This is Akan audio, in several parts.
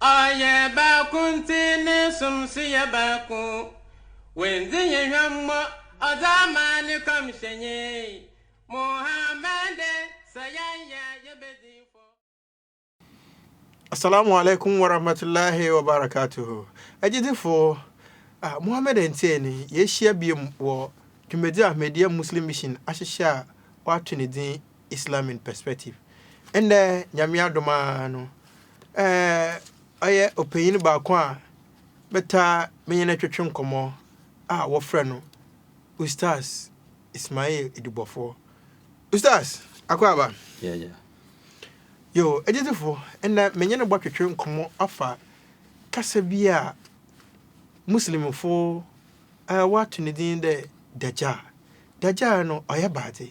Ɔyɛ baako ntsi ne som so yɛ baako. Wenndzi hɛn hwammɔ ɔdze ama ne kɔmhyɛnyi, Muhammad, sɛ yɛnnyɛ a yebedzi fɔ. Assalamu alaikum warahmatullahi wabarakatuh. Agyedzifo, ah, Muhammad Ntsei no, yeehyia bio wɔ dwumadzi a Ahmadiyya Muslim Mission ahyehyɛ a wɔato ne dzin Islam in Perspective. Ndɛ Nyame adom ara no, ɔyɛ ɔpanyin baako a mɛtaa menye no twetwe nkɔmbɔ a wɔfrɛ no Ustaz Ismail Edubɔfoɔ. Ustaz Akwaaba! Yeah, yeah. Yo, agyidzifo, ndɛ menye no bɔtwetwe nkɔmbɔ afa kasa bi a Muslimfo wɔato ne dzin dɛ Dajjal. Dajjal no, ɔyɛ baadze.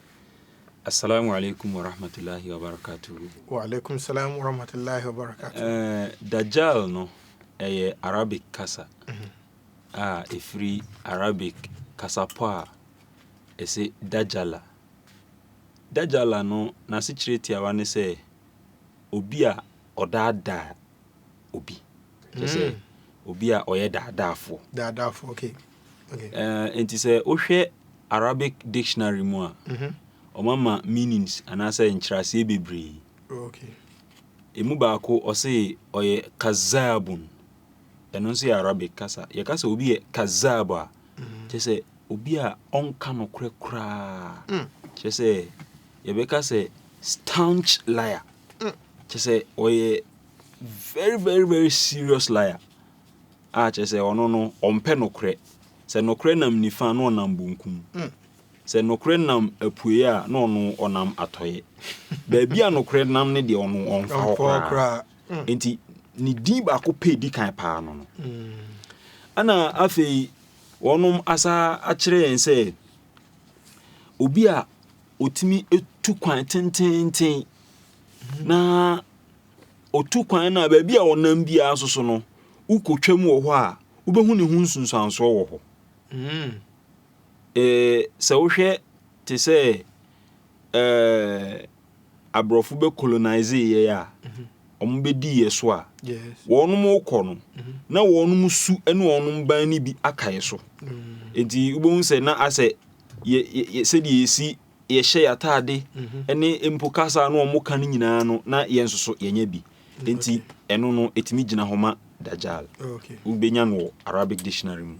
Assalamu alaikum warahmatullahi wabarakatuhu. Wa alaikum salam warahmatullahi wabarakatuhu. Eh, Dajjal no ɛyɛ Arabic kasa mhm. a ɛfiri Arabic kasapɔ a ɛsɛ Dajjala. Dajjala no n'asekyerɛ tiawa ne sɛ obi a ɔdaadaa obi. Kyɛ sɛ mm. obi a ɔyɛ daadaafoɔ. Daadaafoɔ, okay. Enti sɛ wohwɛ Arabic dictionary mu a, wɔama meanings anaasɛ nkyerɛaseɛ bebree. Ɛmu baako ɔse ɔyɛ kazaabun. Ɛno nso yɛ Arabic kasa. Yɛka sɛ obi yɛ kazaab a, kyerɛ sɛ obi a ɔnka nokorɛ koraa. Kyerɛ sɛ yɛbɛka sɛ staunch liar. Kyerɛ sɛ ɔyɛ very very very serious liar. A kyerɛ sɛ, ɔno no, ɔmpɛ nokorɛ. Sɛ nokorɛ nam nifa a, na ɔnam bonkum. Sɛ nokorɛ nam apueɛ a, na ɔno, ɔnam atɔeɛ. Baabi a nokorɛ nam no deɛ, ɔno, ɔmfa hɔ koraa. Enti, ne din baako pɛ a ɛdi kan paa no no. Ɛna afei, wɔnom asa akyerɛ yɛn sɛ, obi a ɔtumi tu kwan tenteenten na Otu kwan no a, baabi a ɔnam biara nso so no, wokotwam wɔ hɔ a, wobɛhu ne ho nsunsuansoɔ wɔ hɔ. Eh, sɛ wohwɛ te sɛ eh, aborɔfo bɛ colonise yɛ a, wɔn bɛdi yɛ so a, wɔn kɔ no, na wɔn su ne wɔn ban no bi aka yɛ so. Nti wobɛhu sɛ na asɛ yɛ, yɛ, yɛ sɛdeɛ yɛsi yɛhyɛ yɛn ataade ne mpo kasa a na wɔka no nyinaa no, na yɛn nso so yɛnya bi. Enti ɛno no, ɛtumi gyina hɔ ma Dajjal. Wobɛnya no wɔ Arabic dictionary mu.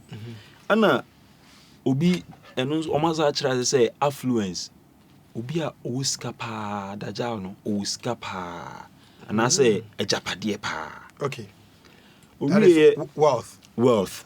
Ɛna obi, ɛno nso wɔn asa akyerɛ ase sɛ affluence. Obi a ɔwɔ sika paa, Dajjal no, ɔwɔ sika paa anaasɛ agyapadeɛ paa. Owieɛ, wealth.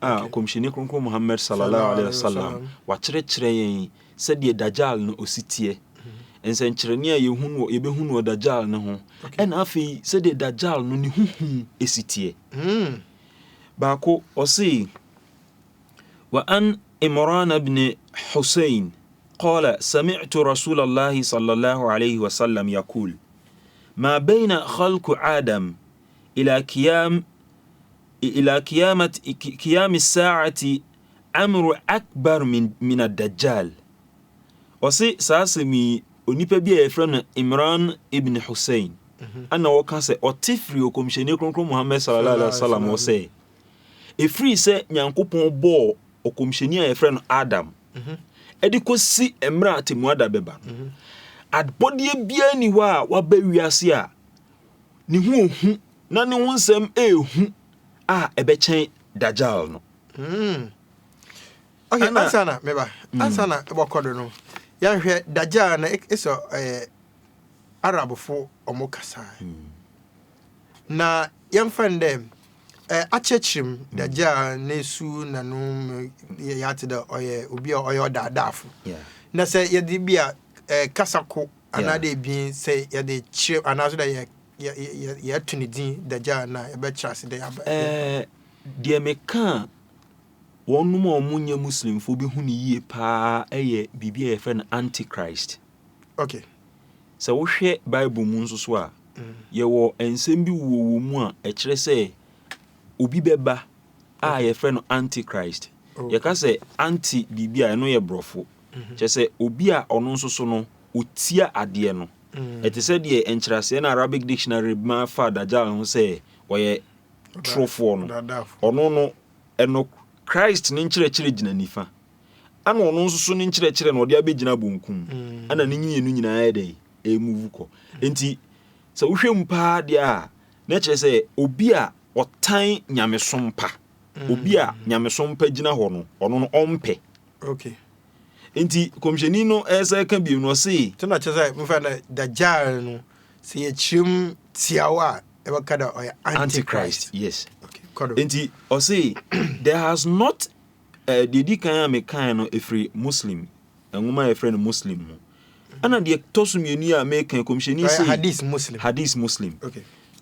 a Ɔkɔmhyɛni Kronkron Muhammad Sallallahu Alaihi Wasallam wakyerɛkyerɛ yɛn sɛdeɛ Dajjal no osi teɛ, nsɛnkyerɛnne a yɛhu no yɛbɛhu no wɔ Dajjal no ho, ɛna afei sɛdeɛ Dajjal no ne ho hu si teɛ. Baako, ɔse, Wa an Imran ibn Hussein qala sami'tu Rasulallahi Sallallahu Alaihi Wasallam yaqul, Ma bayna khalqu Adam Ila kiyam ila kiyamat kiyam saati amru akbar min min adajjal. Ɔse saa asɛm yi onipa bi a yɛfrɛ no Imran ibn Hussein ana ɔka sɛ ɔte firi ɔkɔmhyɛni kronkron Muhammad sallallahu alaihi wasallam hɔ sɛ ɛfiri sɛ Nyankopɔn bɔɔ ɔkɔmhyɛni a yɛfrɛ no Adam ɛde kɔsi mmerɛ a atemmuada bɛba no adbɔdeɛ biara ni hɔ a waba wiase a ne ho ohu na ne ho nsɛm ehu a ɛbɛkyɛn dajal no. Mm. Okay, Ana, ansa na meba. Mm. Ansa na wɔkɔ do no. Yɛnhwɛ dajal na esɔ eh, Arabfo ɔmo kasa. Mm. Na yɛmfa no dɛ eh, akyerɛkyerɛ mu mm. dajal ne su na no yɛate dɛ ɔyɛ obi a ɔyɛ ɔdaadaafo. Yeah. Na sɛ yɛde bi a eh, kasa ko Anaa dɛ ebien, sɛ yɛdze kyerɛw anaaso dɛ yɛ yɛ yɛ yɛto ne dzin Dajjal no a, yɛbɛkyerɛ ase dɛ yɛaba Ɛɛ, deɛ meka a wɔnom a wɔnyɛ Muslimfoɔ bɛhu no yie pa ara yɛ biribi a yɛfrɛ no Antichrist. Okay. Sɛ wohwɛ Bible mu nso so a, yɛwɔ nsɛm bi wɔ wɔ mu a ɛkyerɛ sɛ obi bɛba a yɛfrɛ no Antichrist. Okay. Yɛka sɛ anti biribi a ɛno yɛ borɔfo. Kyerɛ sɛ, obi a ɔno nso so no, otia adeɛ no. Ɛte sɛ deɛ nkyerɛaseɛ no a Arabic Dictionary de ma fa Dajjal ho sɛ ɔyɛ torofoɔ no. Ɔno no, ɛno Christ no nkyerɛkyerɛ gyina nifa, ɛna ɔno nso so no nkyerɛkyerɛ no, ɔde abɛgyina bonkum. Ɛna ne mmienu nyinaa yɛ dɛn? Ɛremuvu kɔ. Enti, sɛ wohwɛ mu paa deɛ a, na ɛkyerɛ sɛ obi a ɔtan nyamesom pa. obi a nyamesom pa gyina hɔ no ɔno no ɔmpɛ okay nti kɔmhyɛni no ɛsɛ ka bio no ɔse nti na kyerɛ sɛ mefa na dajjal no sɛ yɛkyerɛm tiawa a ɛbɛka da ɔyɛ antichrist yes okay kɔdo nti ɔse there has not uh, deɛ di kan a mekae no ɛfiri muslim nwoma a yɛfrɛ no muslim mu ɛna deɛ tɔ so mmienu a meka kɔmhyɛni sɛ hadith muslim hadith muslim okay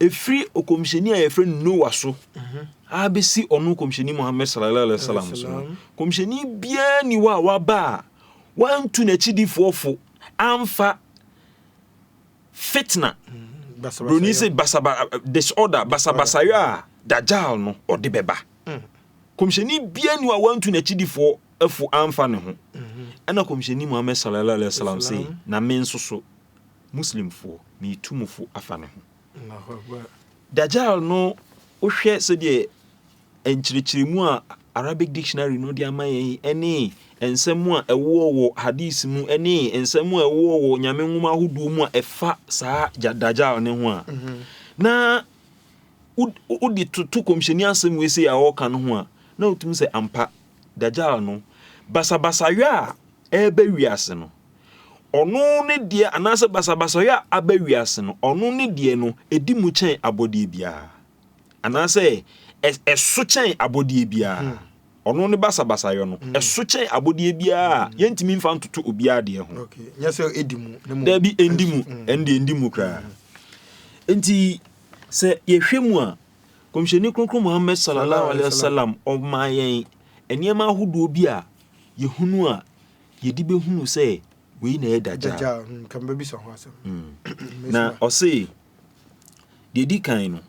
ɛfiri ɔkɔmhyɛni a yɛfrɛ no noa so mhm. abɛsi ɔno kɔmhyɛni muhammad sallallahu alaihi wasallam so no kɔmhyɛni biara ni hɔ a waba a wantu n'akyidifoɔ fo amfa fitna mhm. broni sɛ basaba disorder basabasayɔ a dajal no ɔde bɛba mhm. kɔmhyɛni biara ni hɔ a wantu n'akyidifoɔ fo amfa ne ho ɛna kɔmhyɛni muhammad sallallahu alaihi wasallam sɛ na me nso so Muslimfoɔ meetu mo fo afa ne ho. Dajjal no wohwɛ sɛdeɛ nkyerɛkyerɛmu a Arabic dictionary no de ama yɛn ɛne nsɛm a ɛwɔ wɔ hadith mu ɛne nsɛm a ɛwɔ wɔ nyame nwoma ahodoɔ mu a ɛfa saa Dajjal ne ho a mhm. na wode toto kɔmhyɛni asɛm wei sɛ a ɔka no ho a na wotumi sɛ ampa Dajjal no basabasayɛ a ɛbɛ wiase no Ɔno ne deɛ, anaasɛ basabasayɛ a aba wiase no, ɔno ne deɛ no ɛdi mu kyɛn abɔdeɛ biara, anaasɛ ɛso kyɛn abɔdeɛ biara. Hmm. Ɔno ne basabasayɔ no, hmm. ɛso kyɛn abɔdeɛ biara a yɛntumi mfa ntoto obiara deɛ ho. Dabi, ɛndi mu, hmm. ɛnde ɛndi mu koraa. Nti, sɛ yɛhwɛ mu a, kɔmhyɛni kronkron Muhammad sallallahu alaihi wasallam ɔmaa yɛn nneɛma ahodoɔ bi a yɛhunu a Yɛde bɛhunu sɛ wei na ɛyɛ Dajjal. Na ɔse, deɛ ɛdi kan no,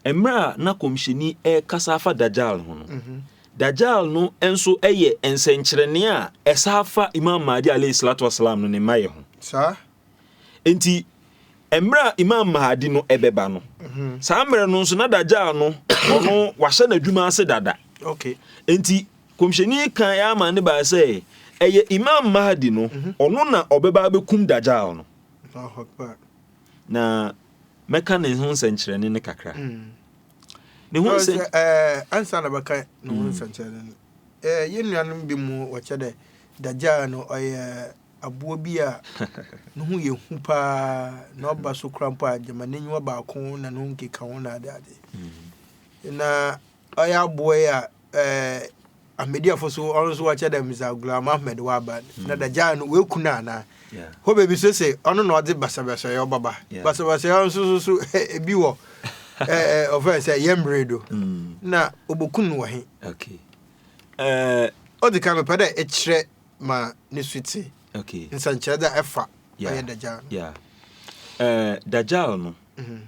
mmerɛ a na kɔmhyɛni ɛrekasa afa Dajjal ho no, Dajjal no nso yɛ nsɛnkyerɛnne a ɛsa afa Imam Mahdi alayhi salatu wasalam no ne mmayɛ ho. Saa? Nti, mmerɛ a Imam Mahdi no ɛbɛba no, saa mmerɛ no nso na Dajjal no ɔno wahyɛ n'adwuma ase dada. Okay. Nti, Kɔmhyɛni kan yɛ amanne bae sɛ ɛyɛ Imam Mahdi no, ɔno na ɔbɛba abɛkum Dajjal no. Na mɛka ne ho nsɛnkyerɛnne no kakra. Ne ho nsɛn. Ansa na bɛka ne ho nsɛnkyerɛnne no, yɛn nuanom bi mu wɔkyɛ dɛ Dajjal no ɔyɛ aboa bi a ne ho yɛ hu paa na ɔba so kora mpo a gyama n'aniwa baako na ne ho nkeka ho na adeade. Na Ɔyɛ aboa yi a ɛɛ Ahmediafo so ɔno nso wɔkyɛ dɛ Mirza Ghulam Ahmed waba hmm. na dagyaa no wɔaku no anaa hɔ baabi so se ɔno na ɔdze basabasayɛ ɔbaba basabasayɛ nso so so ebi wɔ ɔfɛn sɛ yɛ mmere do hmm. na ɔbɔku no wɔ he ɔdze ka mepɛ dɛ ɛkyerɛ ma ne su te nsɛnkyerɛ dɛ ɛfa ɔyɛ dagyaa no dagyaa no mhm.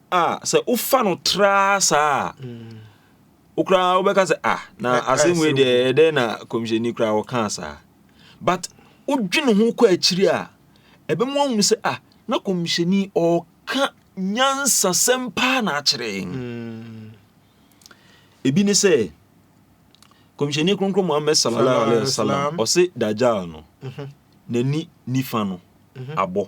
a sɛ wofa no traa saa a wo koraa wobɛka sɛ ah na asɛm wei deɛ ɛyɛ dɛn na kɔmhyɛni koraa wɔkaa saa but wodwene ho kɔ akyiri a ɛbɛmu ahunu sɛ ah na kɔmhyɛni ɔka nyansasɛm paa na akyerɛ mm. ebi ne sɛ kɔmhyɛni kronkron muhammad sallallahu alaihi wasallam ɔse dajal no mhm. n'ani nifa no mhm. abɔ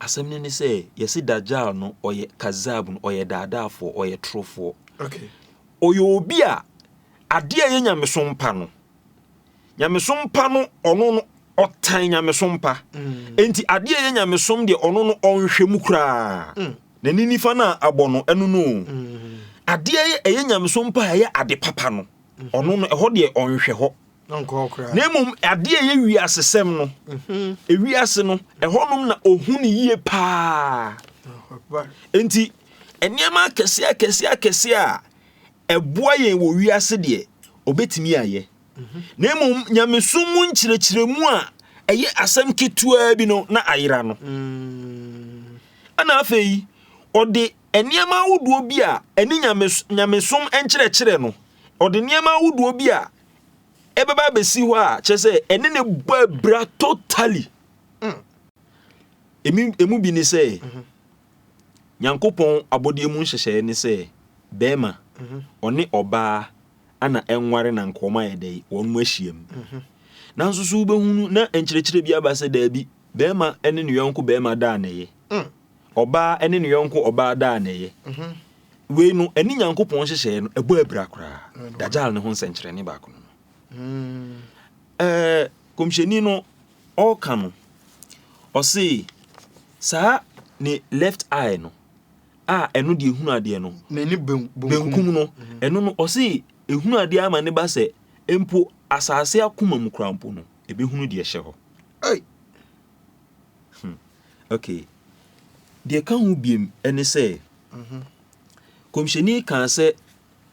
Asɛm no ne sɛ yɛse Dajjal no ɔyɛ kazab no ɔyɛ daadaafoɔ ɔyɛ torofoɔ. Okay. Ɔyɛ obi a adeɛ a ɛyɛ nyamesom pa no nyamesom pa no ɔno no ɔtan nyamesom pa. Mm. Enti adeɛ a ɛyɛ nyamesom deɛ ɔno no ɔnhwɛ mu koraa. Mm. N'ani nifa no a abɔ no ɛno no. Mm. Adeɛ a ɛyɛ nyamesom pa a ɛyɛ ade papa no ɔno no ɛhɔ deɛ ɔnhwɛ hɔ. na mmom adeɛ a ɛyɛ wiasesɛm no ewiase no ɛhɔnom na ohun yie paa nti nneɛma akɛse akɛse akɛse a ɛboa yɛn wɔ wiase deɛ obetumi ayɛ na mmom nyamesom mu nkyerɛkyerɛmu a ɛyɛ asɛm ketewaa bi no na ayera no ɛna afei ɔde nneɛma ahodoɔ bi a ɛne nyamesom nkyerɛkyerɛ no ɔde nneɛma ahodoɔ bi a ɛbɛba abɛsi hɔ a kyerɛ sɛ ɛne ne bɔ abira totally mm. emu emu bi ne sɛ mhm. nyankopɔn abɔdeɛ mu nhyehyɛeɛ ne sɛ bɛrima mhm. ɔne ɔbaa ana ɛnware na nka wɔn ayɛ dɛ wɔn mu ahyiam mhm. nanso so wobɛhunu na nkyerɛkyerɛ bi aba sɛ daabi bɛrima ne ne yɔnko bɛrima da a na ɛyɛ mm. Ɔbaa ne ne yɔnko ɔbaa daa nnɛyɛ. Wei no, ɛne Nyankopɔn nhyehyɛeɛ no, ɛbɔ abira koraa. Dajjal no ho nsɛnkyerɛnne baako no no. Ɛɛ, kɔmhyɛni no, ɔreka no, ɔse, saa ne left eye no, a ɛno deɛ ɛhunu adeɛ no, n'ani benkum no, ɛno no, ɔse, ɛhunu adeɛ ama ne ba sɛ, mpo asase akoma mu koraa mpo no, ɛbɛhunu deɛ ɛhyɛ hɔ. Hmm. Okay. Deɛ ɛka ho biem ne sɛ, kɔmhyɛni kaa sɛ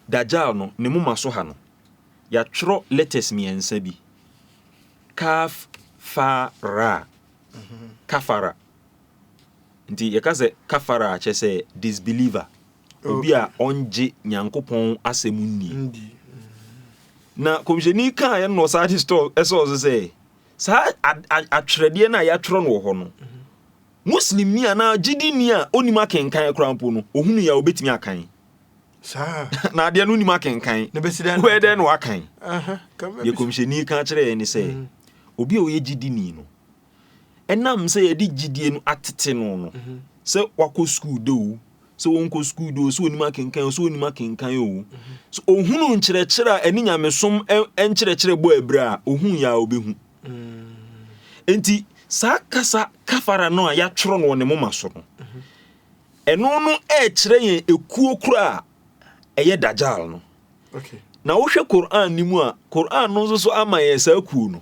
Dajjal no ne moma so ha no, yɛatwerɛ letters mmiɛnsa bi. Kaf, fa, ra. Kafara. Nti yɛka sɛ kafara akyɛ sɛ disbeliever. Obi a ɔngye Nyankopɔn asɛm nni. Na kɔmhyɛni kaa yɛ no ɔsaa de store ɛsɛ ɔso sɛ Saa atwerɛdeɛ no a yɛatwerɛ no wɔ hɔ no, Muslimni anaa gyidini a ɔnim akenkan koraa mpo no, ɔhunu yɛ a ɔbɛtumi akan. Saa. Na adeɛ no nim akenkan. Na bɛsi dɛn? Wɛɛ dɛn na wakan. Deɛ kɔmhyɛni ka kyerɛ yɛn ne sɛ, mhm. obi a ɔyɛ gyidini no, ɛnam sɛ yɛde gyidie no atete no no, mhm. sɛ wakɔ sukuu dɛ o, sɛ ɔnkɔ sukuu de o sɛ ɔnim akenkan o sɛ ɔnim akenkan o so ɔhunu nkyerɛkyerɛ a ɛne nyamesom nkyerɛkyerɛ bɔ abira a ɔhu yɛ a ɔbɛhu nti saa kasa kafara no a yɛatwerɛ no wɔ ne moma so no ɛno no ɛkyerɛ yɛn ekuo koro a ɛyɛ dajal no na wohwɛ Quran no mu a Quran no nso so ama yɛn saa kuo no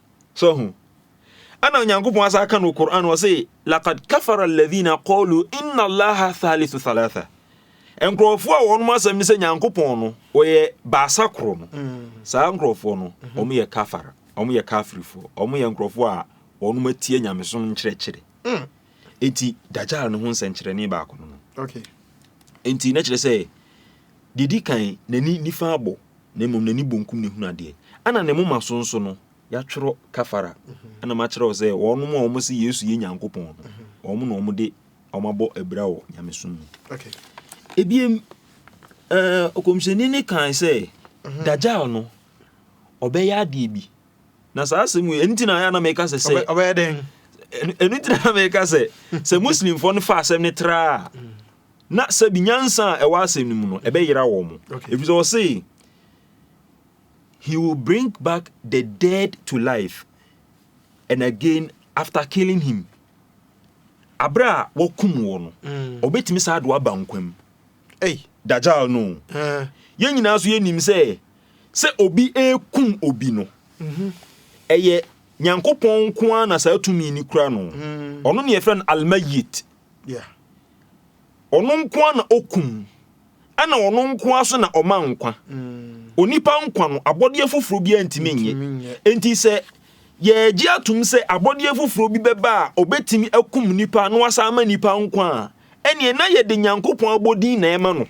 So ho? Ɛna Onyankopɔn asa aka no wɔ Qur'an wɔ se, Laqad kafara alladhina qalu inna Allaha thalithu thalatha. Nkurɔfoɔ a wɔn asɛm ne sɛ Nyankopɔn no ɔyɛ baasa koro no. Mm. Saa nkurɔfoɔ no, mm-hmm. wɔn yɛ kafara, wɔn yɛ kafirifoɔ, wɔn yɛ nkurɔfoɔ a wɔn atie nyamesom nkyerɛkyerɛ. Mm. Enti Dajjal no ho nsɛnkyerɛnne baako no no. Okay. Enti na kyerɛ sɛ didi kan n'ani nifa abɔ. na mmom n'ani bonkum na ehunu adeɛ. Ɛna ne moma so nso no, yɛatwerɛ kafara. Ɛna makyerɛw sɛ wɔnom a wɔn se Yesu yɛ Nyankopɔn no, wɔn na wɔn de wɔn abɔ abira wɔ nyamesom mu. Okay. Ebiem, ɛɛ ɔkɔmhyɛni ne kan sɛ, mhm. Dajjal no, ɔbɛyɛ adeɛ bi. Na saa asɛm yi, ɛno ti na ayɛ na mɛka sɛ sɛ. Ɔbɛyɛ dɛn? ɛno ntina na meka sɛ sɛ muslimfoɔ no fa asɛm no traa na sɛbi nyansa a ɛwɔ asɛm no mu no ɛbɛyera wɔn ɛfiri sɛ ɔse he will bring back the dead to life and again after killing him aberɛ a wɔkum wɔ no mm. ɔbɛtumi saa de waba nkwa mu dajal no eh. yɛn nyinaa so yɛnim sɛ sɛ obi ɛkum obi no mhm. ɛyɛ nyankopɔn nko a na saa tumi ni kura no mm. ɔno ne yɛfrɛ no almayit Ɔno nko ara na okum, ɛnna ɔno nko ara nso na ɔma nkwa. Onipa nkwa no, abɔdeɛ foforɔ biara ntumi nyɛ. Enti sɛ yɛregye atom sɛ abɔdeɛ foforɔ bi bɛba a ɔbɛtumi akum nipa na wasan ama nipa nkwa a, ɛnneɛ na yɛde Nyankopɔn abɔdin na ɛma no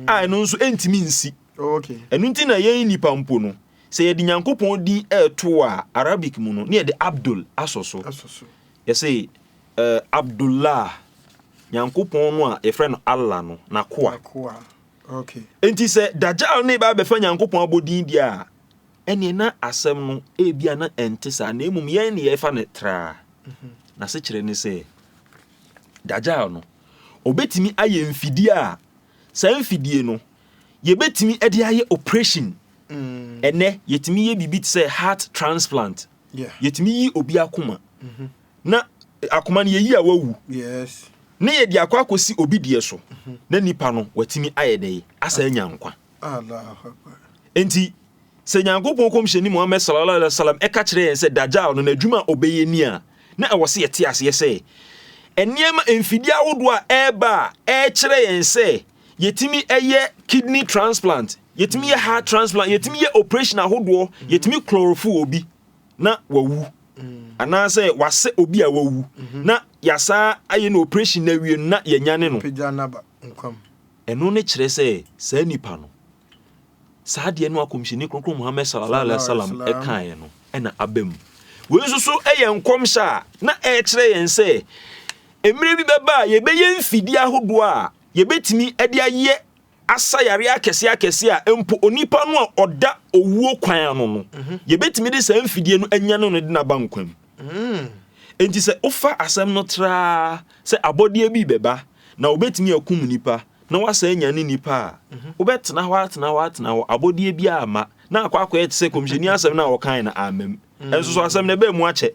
a ɛno nso ɛntumi nsi. Ɛno nti na yɛn nipa mpo no, sɛ yɛde Nyankopɔn din ɛreto a, Arabic mu no, na yɛde Abdul asɔ so. Yɛse, Eh, Abdullah, Nyankopɔn no a yɛfrɛ no Allah no, N'akoa. N'akoa. Okay. Enti sɛ Dajjal no reba abɛfa Nyankopɔn abɔdin deɛ a, ɛneɛ na asɛm no ebia na ɛnte saa, na mmom yɛn ne yɛfa no traa. Mhm. N'asekyerɛ ne sɛ, Dajjal no, ɔbɛtumi ayɛ mfidie a, saa mfidie no, yɛbɛtumi de ayɛ operation. Mm. Ɛnɛ, yɛtumi yɛ biribi te sɛ heart transplant. Yɛtumi yi obi akoma mhm. na akoma no yɛyi a wawu ne yɛde akɔ akɔsi obi deɛ so mhm. na nipa no watumi ayɛ dɛn asa anya nkwa enti sɛ nyankopɔn kɔmhyɛni muhammad sallallahu alaihi wasallam ɛka kyerɛ yɛn sɛ dajal no n'adwuma a ɔbɛyɛ ni a na ɛwɔ sɛ yɛte aseɛ sɛ nneɛma mfidie ahodoɔ a ɛreba a ɛrekyerɛ yɛn sɛ yɛtumi ɛyɛ kidney transplant Yɛtumi yɛ heart transplant, yɛtumi yɛ operation ahodoɔ, yɛtumi chlorofu obi na wawu anaasɛ wasɛ obi a wawu na yɛasaa ayɛ no operation na awie no na yɛanyane no. Ɛno ne kyerɛ sɛ saa nipa no, saa deɛ no akɔmhyɛni kronkron Muhammad sallallahu alaihi wasallam ɛkaeɛ no ɛna aba mu. Wei nso so ɛyɛ nkɔmhyɛ a na ɛkyerɛ yɛn sɛ mmerɛ bi bɛba a yɛbɛyɛ mfidie ahodoɔ a yɛbɛtumi de ayɛ asa yare akɛse akɛse a mpo onipa no a ɔda owuo kwan ano no mhm. yɛbɛtumi de saa mfidie no anya no no de naba nkwa mu mm. enti sɛ wofa asɛm no traa sɛ abɔdeɛ bi bɛba na wobɛtumi akum nipa na woasa anya ne nipa a mhm. wobɛtena hɔ atena hɔ atena hɔ abɔdeɛ bi ama na akɔ akɔyɛ te sɛ kɔmhyɛni asɛm no a wɔkae no amam mm. ɛnso so asɛm no ɛbɛɛ mu akyɛ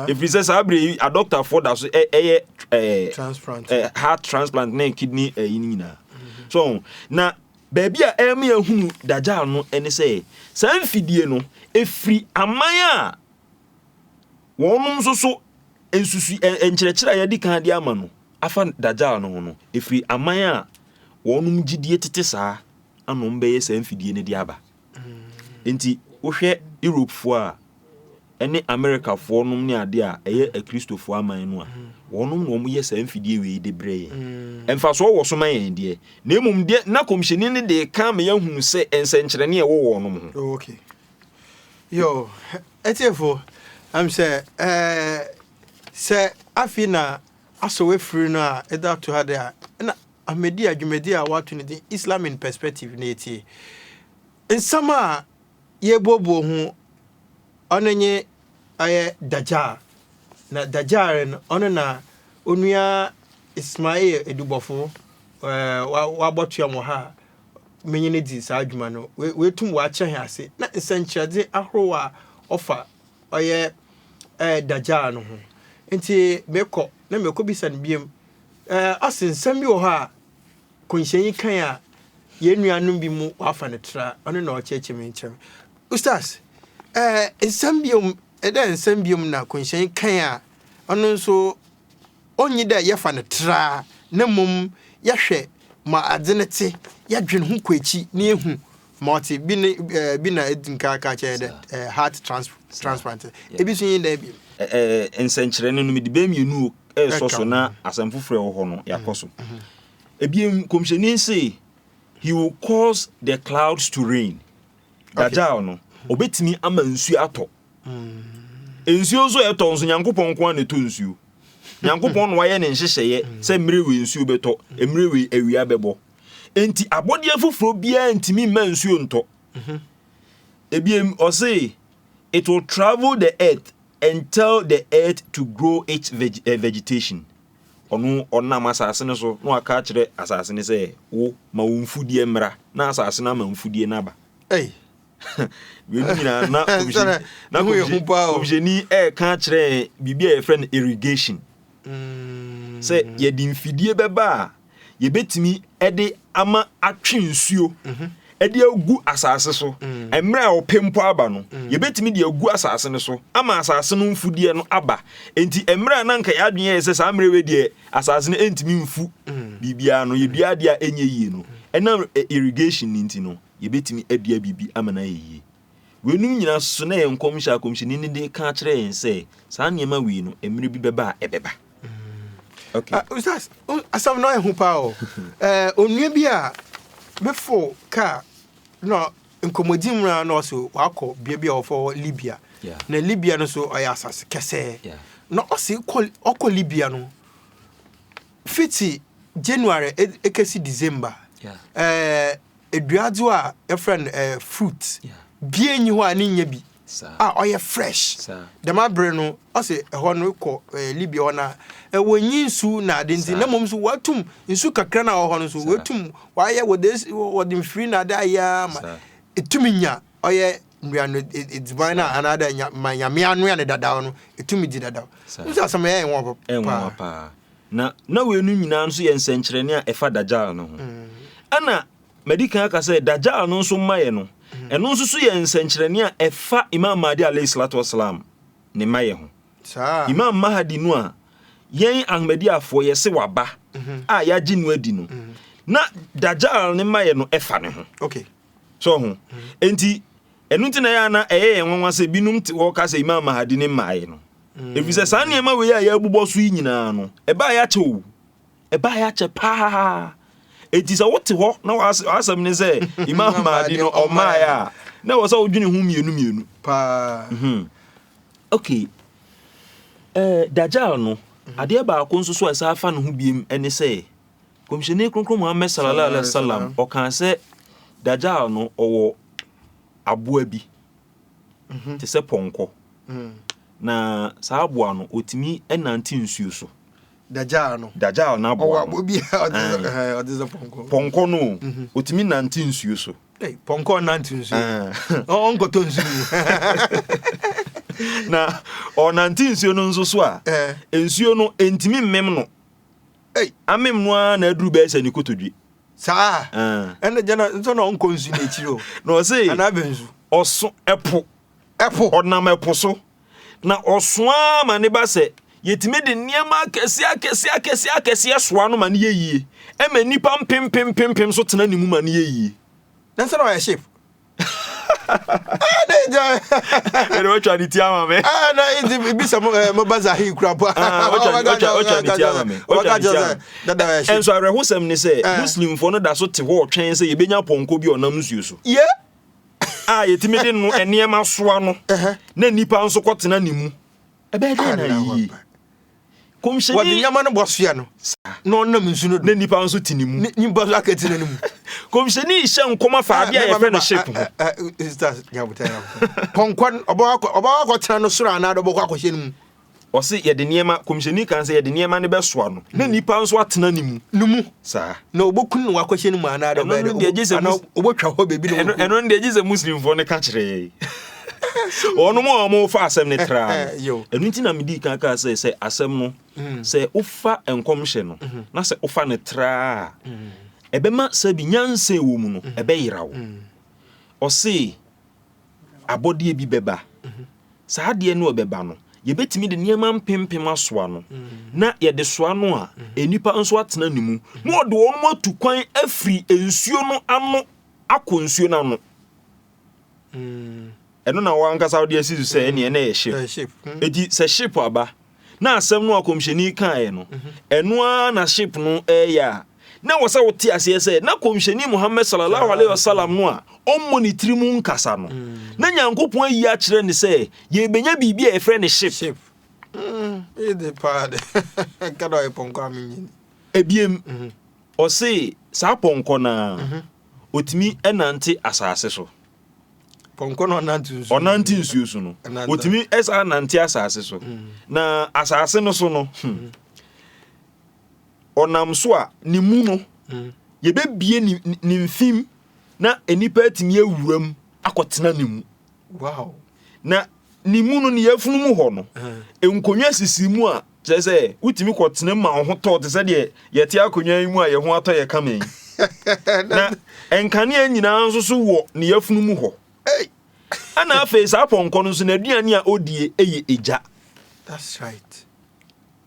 ɛfiri sɛ saa berɛ yi adɔktafoɔ da so ɛyɛ heart transplant ne kidney ɛyi no nyinaa so na baabi a ɛma yɛhunu dagyaa no ne sɛ saa mfidie no ɛfiri aman a wɔnom nso so nsusu nkyerɛkyerɛ a yɛde kan de ama no afa dagyaa no ho no ɛfiri aman a wɔnom gyidie tete saa anom bɛyɛ saa mfidie no de aba Enti wohwɛ Europefoɔ a, ɛne Amerikafoɔ nom ne adeɛ a ɛyɛ akristofoɔ aman no a, wɔn nom na wɔn yɛ saa mfidie wei de brɛ yɛn. Mm. Mfasoɔ wɔ so ma yɛn deɛ, na mmom deɛ na kɔmhyɛni no de ka ma yɛahunu sɛ nsɛnkyerɛnne a ɛwɔ wɔn nom ho. Oh, okay. Yo, ɛtiefo, am sɛ ɛɛ sɛ afei na asɔ wafiri no a ɛda to ha de a, na Ahmadiyya dwumadi a wɔato no din Islam in Perspective na etie. Nsɛm a yebuobue ho ɔno nye ɔyɛ Dajjal, na Dajjal no ɔno na Onua Ismail Edubɔfo ɔabɔtoa mu wɔ ha a menye no dzi saa dwuma no. Oetum ɔakyerɛ hɛn ase na nsɛnkyerɛdze ahorow a ɔfa ɔyɛ Dajjal no ho. Ntsi mekɔ na mekobisa no bio Ɛɛ, ɔse nsɛm bi wɔ hɔ a kɔnhyɛnyi kae a yɛn nuanom bi mu wɔafa no tra, ɔno na ɔkyerɛkyerɛ me nkyerɛ me. Ustaz, ɛɛ nsɛm biom, dɛ nsɛm biom na kɔnhyɛnyi kae a ɔno nso onnyi dɛ yɛfa no tra na mbom yɛhwɛ ma adze no tse, yɛdwen ho kɔ ekyi na yehu ma ɔtse bi ne ɛɛ bi na edzi nka ka kyerɛ dɛ ɛɛ heart trans transplant ebi so nye dɛ bi. Ɛɛ nsɛnkyerɛnne no mede bɛyɛ mmienu o ɛresɔ so na asɛm foforɔ ɛwɔ hɔ no mm-hmm. yɛakɔ so mm-hmm. ebien kɔmhyɛni se he will cause the clouds to rain dajal no mm-hmm. ɔbɛtumi ama nsuo atɔ nsuo nso ɛtɔ nso nyankopɔn nko a na ɛtɔ nsuo nyankopɔn na wayɛ ne nhyehyɛeɛ sɛ mmerɛ wei nsuo bɛtɔ mmerɛ wei awia bɛbɔ enti abɔdeɛ foforɔ biara ntumi mma nsuo ntɔ ebiem ɔse it will travel the earth and tell the earth to grow its veg eh, vegetation ɔno ɔnam asase no so na waka akyerɛ asase no sɛ wo ma wo mfudeɛ mmra na asase no ama mfudeɛ no aba Ei, wei no nyinaa na Sɛ kɔmhyɛni na- na ne ho yɛ hu kɔmhyɛ- paa o. kɔmhyɛni ɛreka akyerɛ yɛn biribi a yɛfrɛ no irrigation sɛ yɛde mfidie bɛba a yɛbɛtumi de ama atwe nsuo mhm. de agu asase so mm. mmerɛ a ɔpɛ mpo aba no mm. yɛbɛtumi de agu asase no so ama asase no mfudeɛ no aba enti mmerɛ a na nka yɛ adwene yɛ sɛ saa mmerɛ wei deɛ asase no ɛntumi mfu mm. biribiara no yɛdua adeɛ a ɛnyɛ yie no ɛnam e, irrigation no nti no yɛbɛtumi adua biribi ama no ayɛ yie Weinom nyinaa so na ɛyɛ nkɔmhyɛ a kɔmhyɛni no de ka kyerɛ yɛn sɛ saa nneɛma wei no, mmerɛ bi bɛba a ɛbɛba. Okay. Ah, usas, um, asɛm no ɛho paa o. Eh, onua bi a befo kaa na nkɔmmɔdzi mu na ɔse wakɔ bea bi a wɔfrɛ hɔ Libya. Yeah. Na Libya no so ɔyɛ asase kɛsɛɛ. Yeah. Na ɔse kɔ ɔkɔ Libya no fiti January e- ekesi December. Yeah. Eh, eduadzewa a yɛfrɛ no eh, fruit bia nnyi hɔ a ne nnyɛ bi a ɔyɛ fresh. Dɛm aber no ɔse hɔ no kɔ eh, Libya hɔ no a wɔnnyi nsu na adze ntsi na mbom so wɔatum nsu kakra no a ɔwɔ hɔ no so woetum wɔayɛ wɔdze es wɔdze mfir na adze ayɛ ara ma etum nya ɔyɛ nduano eh, edziban no a anaadɛ nya ma nyame anoa no dadaw no etum dzi dadaw. Ɔno so asɛm no yɛɛ nwonwa papa. Na na wei no nyinaa nso yɛ nsɛnkyerɛnne a ɛfa Dajjal no ho. Ɛna madi kan aka sɛ Dajjal no nso mmayɛ no, ɛno nso so yɛ nsɛnkyerɛnne a ɛfa Imam Mahdi alaih salatu wa salaam ne mmayɛ ho. Imam Mahdi no a yɛn Ahmadiyyafoɔ yɛse waba a yɛagye no adi no, na Dajjal ne mmayɛ no ɛfa ne ho. So ho? Enti Ɛno nti na ɛyɛ a na ɛyɛ yɛn nwanwa sɛ binom te hɔ ka sɛ Imam Mahdi ne mmaeɛ no. Efisɛ saa nneɛma wei a yɛbobɔ so yi nyinaa no, ɛbaeɛ akyɛ o. Ɛbaeɛ akyɛ paa. Enti sɛ wote hɔ na w'asɛm ne sɛ Imam Mahdi no ɔmmaeɛ a, na ɛwɔ sɛ wodwene ho mmienu mmienu. Paa. Ok. Ɛɛ Dajjal no, adeɛ baako nso so a ɛsan fa ne ho biom ne sɛ, Kɔmhyɛni Kronkron Muhammad Sallallahu Alaihi Wasallam ɔkaa sɛ Dajjal no ɔwɔ aboa bi mhm. te sɛ pɔnkɔ mm. na saa aboa no ɔtumi nante nsuo so Dajjal no Dajjal no aboa no pɔnkɔ no mhm. ɔtumi nante nsuo so pɔnkɔ nante nsuo ɔnkɔtɔ nsuo mu na ɔnante nsuo no nso so a nsuo no ɛntumi mmem no Ei! Amem no ara na aduru bɛyɛ sɛ ne kotodwe. Saa? Ɛɛ. Ɛnna gya na nso na ɔnkɔ nsu no akyiri o. Na ɔse. Anaa abɛn nsu. Ɔso ɛpo. Ɛpo. Ɔnam ɛpo so. Na ɔso ara ma ne ba sɛ yɛtumi de nneɛma akɛseɛ akɛseɛ akɛseɛ akɛseɛ soa no ma no yɛ yie. Ɛma nnipa mpempempempem nso tena ne mu ma no yɛ yie. Na nso na ɔyɛ ship. ɛna watwa ne ti ama me ɛna nti bisa mo eh, mo baza hi kura po watwa ne ti ama me watwa ne ti ama me ɛnso awerɛhosɛm ne sɛ eh. muslimfoɔ no da so te hɔ ɔtwɛn sɛ yɛbɛnya pɔnkɔ bi ɔnam nsuo so a yɛtumi de no nneɛma soa no na nnipa nso kɔtena ne mu ɛbɛyɛ dɛn na yie Kɔmhyɛni. Wɔde nneɛma no bɔ soa no. Saa. Na ɔnam nsu no do. Na nnipa nso te ne mu. Ne nnipa nso aka te ne mu. Kɔmhyɛni hyɛ nkɔm afa ah, adeɛ a yɛfrɛ no ship ho. Ah, ah, Pɔnkɔ no, ɔbɛkɔ akɔtena no soro anaa ɔbɛkɔ akɔhyɛ no mu. Ɔse yɛde nneɛma, kɔmhyɛni kan sɛ yɛde nneɛma no bɛsoa no. Na hmm. nnipa nso atena ne mu. Ne mu. Saa. Na ɔbɛkunu no wakɔhyɛ no mu anaa ɔbɛtwa hɔ baabi na ɔbɛkunu. Ɛno no deɛ gye sɛ Muslimfoɔ no ka kyerɛ yɛn. wɔnom a wɔfa asɛm no traa no ɛno nti na medii kan kaa sɛ sɛ asɛm no mm. sɛ wofa nkɔmhyɛ no mm-hmm. na sɛ wofa no traa mm. ɛbɛma sɛ bi nyansa wɔ mu no mm. ɛbɛyera wo ɔse abɔdeɛ bi bɛba mm-hmm. saa adeɛ no ɛbɛba no yɛbɛtumi de nneɛma mpempem asoa no na yɛde soa no a nnipa nso atena ne mu na ɔde wɔn atu kwan afiri nsuo no ano akɔ nsuo no ano Mm. ɛno na wankasa wode asi so sɛ ɛneɛ na ɛyɛ ship ɛti mm. sɛ ship aba na asɛm no akɔmhyɛni kaeɛ no mm-hmm. ɛno ara na ship no ɛyɛ a na wɔ sɛ wote aseɛ sɛ na kɔmhyɛni mohammed salallahu alaihi wasallam no a ɔmmɔ ne tiri mu nkasa no mm. na nyankopɔn ayi akyerɛ ne sɛ yɛbɛnya biribi a yɛfrɛ ne ship ɛbiem mm-hmm. ɔse saa pɔnkɔ no a mm-hmm. Ɔtumi nante asase so. Pɔnkɔ na ɔnante nsuo. Ɔnante nsuo so no. Ɔtumi saa nante asase so. Mm. Na asase no so no. Hmm. Mm. Ɔnam so a ne mu no. Mm. Yɛbɛbie ne mfim na nnipa atumi awuram akɔtena ne mu. Wow. Na Ne mu no, ne yafunu mu hɔ no, nkonnwa sisi mu a kyerɛ sɛ wotumi kɔtena mu ma wo ho tɔ te sɛ deɛ yɛte akonnwa yi mu a yɛn ho atɔ yɛ kama yi. Na nkanea nyinaa nso so wɔ ne yafunu mu hɔ. Ɛna afei saa pɔnkɔ no nso n'aduane a odie yɛ egya. That's right.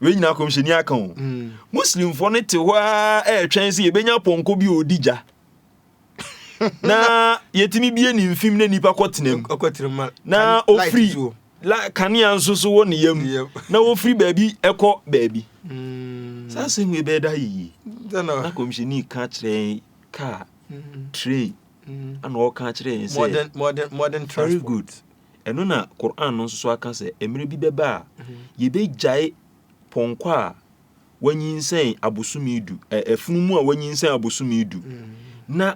Wei nyinaa kɔmhyɛni aka o. Mm. Muslimfoɔ no te hɔ a ɛretwɛn sɛ yɛbɛnya pɔnkɔ bi a ɔdi gya. na yɛtumi bie ne mfim na nnipa kɔtenam na ɔfiri kanea nso so wɔ ne yam na wɔfiri baabi ɛkɔ baabi hmm. saa sɛ hu ɛbɛyɛ da yie na kɔmhyɛni ka kyerɛ kaa hmm. train hmm. ana ɔka kyerɛ yɛn sɛ very good ɛno na Quran no nso so aka sɛ mmerɛ bi bɛba a yɛbɛgyae pɔnkɔ a wanyinsɛn abosome du ɛ ɛfunu mu a wanyinsɛn abosome du na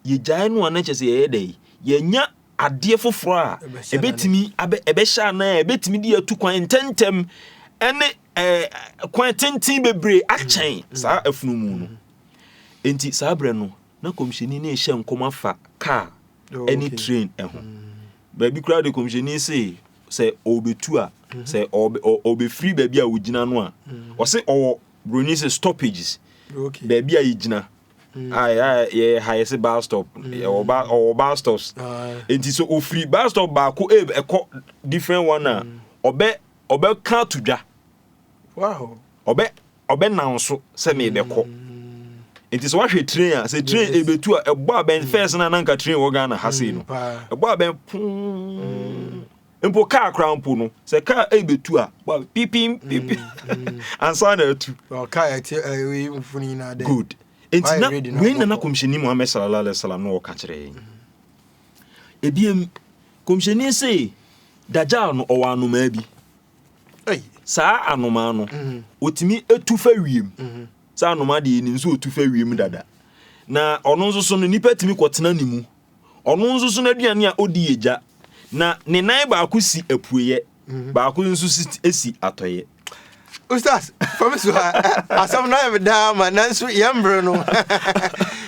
yɛgyae no a na kyɛ sɛ yɛyɛ dɛ yɛnya adeɛ foforɔ a ɛbɛtumi ɛbɛhyɛ anan a ɛbɛtumi de atu kwan ntɛntɛm ɛne ɛɛ kwan tenten bebree akyɛn saa afunu mu no nti saa berɛ no na kɔmhyɛni ne ɛhyɛ nkɔm afa kaa ɛne train ɛho. Baabi koraa de kɔmhyɛni se sɛ ɔbɛtu a mhm. sɛ ɔbɛfiri baabi a ɔgyina no a mhm. ɔse ɔwɔ buroni sɛ stoppages baabi a yɛgyina mhm. yɛ ha yɛ se bar stop ɔwɔ bar stops nti sɛ ɔfiri bar stop baako ɛkɔ different one a ɔbɛ ɔbɛka to dwa ɔbɛ ɔbɛnan so sɛ merebɛkɔ. Nti sɛ wahwɛ train a, sɛ train ebetu a, ɛbɔ abɛn mm. fɛs na nanka train wɔ Ghana ha sei no. Mm, ɛbɔ abɛn pum. Mpo kaa koraa mpo no, sɛ kaa ebetu a, bɔ abɛn pipim mm, pipim. Ansa na atu. Kaa ɛte ɛyi mfoni nyinaa dɛ. Good. Nti na wei nana kɔmhyɛni Muhammad sallallahu alaihi wasallam na ɔka kyerɛ yɛn. Ebiem kɔmhyɛni se Dajjal no ɔwɔ anomaa bi. Saa anomaa no, ɔtumi tu fa wiem. Saa anomaa deɛ yɛnim sɛ ɔtu fa wiem dada. Na ɔno nso so no, nnipa tumi kɔtena ne mu. Ɔno nso so no aduane a ɔdi yɛ gya. Na ne nan baako si apueɛ, mhm. baako nso si atɔeɛ. Ustaz, fam so ha, asɛm no ayɛ me daa ma nanso yɛn mmerɛ no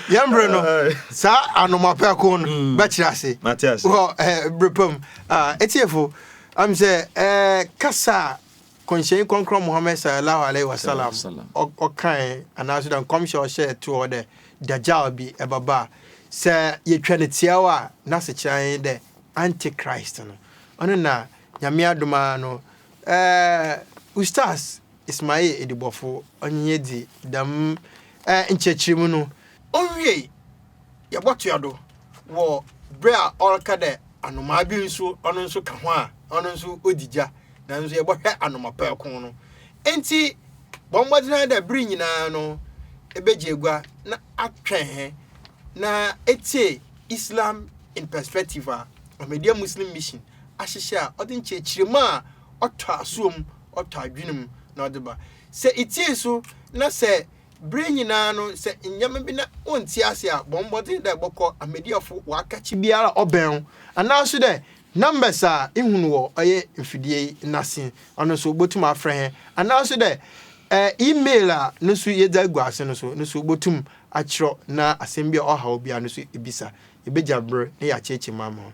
yɛn mmerɛ no saa anomapɛko no mm. bɛkyerɛ ase wɔ eh, berɛ pam ah, ɛtiefo Am sɛ ɛɛ kasa a Kɔnhyɛnyi Krɔnkrɔn Muhammad Sallallahu Alaihi Wasallam ɔ ɔkãe anaa so dɛ nkɔmhyɛ a ɔhyɛɛ too hɔ dɛ Dajjal bi bɛba a, sɛ yetwa no tsiaw a, n'asekyerɛ ara nye dɛ Antichrist no. Ɔno na Nyame adom ara no ɛɛ Ustaz Ismail Edibɔfo ɔnye hɛn dzi dɛm ɛɛ nkyerɛkyerɛmu no. Owiei, yɛbɔtoa do wɔ ber a ɔreka dɛ anomaa bi so ɔno so ka ho a ɔno so odzi gya, naaso yɛbɔhwɛ anomapaakun no. Ntsi bɔ mbɔdzen ara dɛ ber nyina no ebegye egua na atwɛn hɛn na etsie Islam in Perspective a Ahmadiyya Muslim Mission ahyehyɛ a ɔdze nkyerɛkyerɛmu a ɔtɔ asowa mu, ɔtɔ adwen mu na ɔdze ba. Sɛ itsie so na sɛ Bere nyinaa no sɛ nneɛma bi na wonntse ase a, bɔ mbɔdzen dɛ ebɔkɔ Ahmadiyyafo w'akakye biara a ɔbɛn wo, anaa so dɛ numbers a ihu no wɔ ɔyɛ mfidie yi n'ase ɔno so wobotum afrɛ hɛn, anaa so dɛ e-mail a no so yedze agu ase no so no so wobotum akyerɛw na asɛm bi a ɔhaw wo biara no so ibisa. Yebegya ber na yɛakyerɛkyerɛ mu ama wo.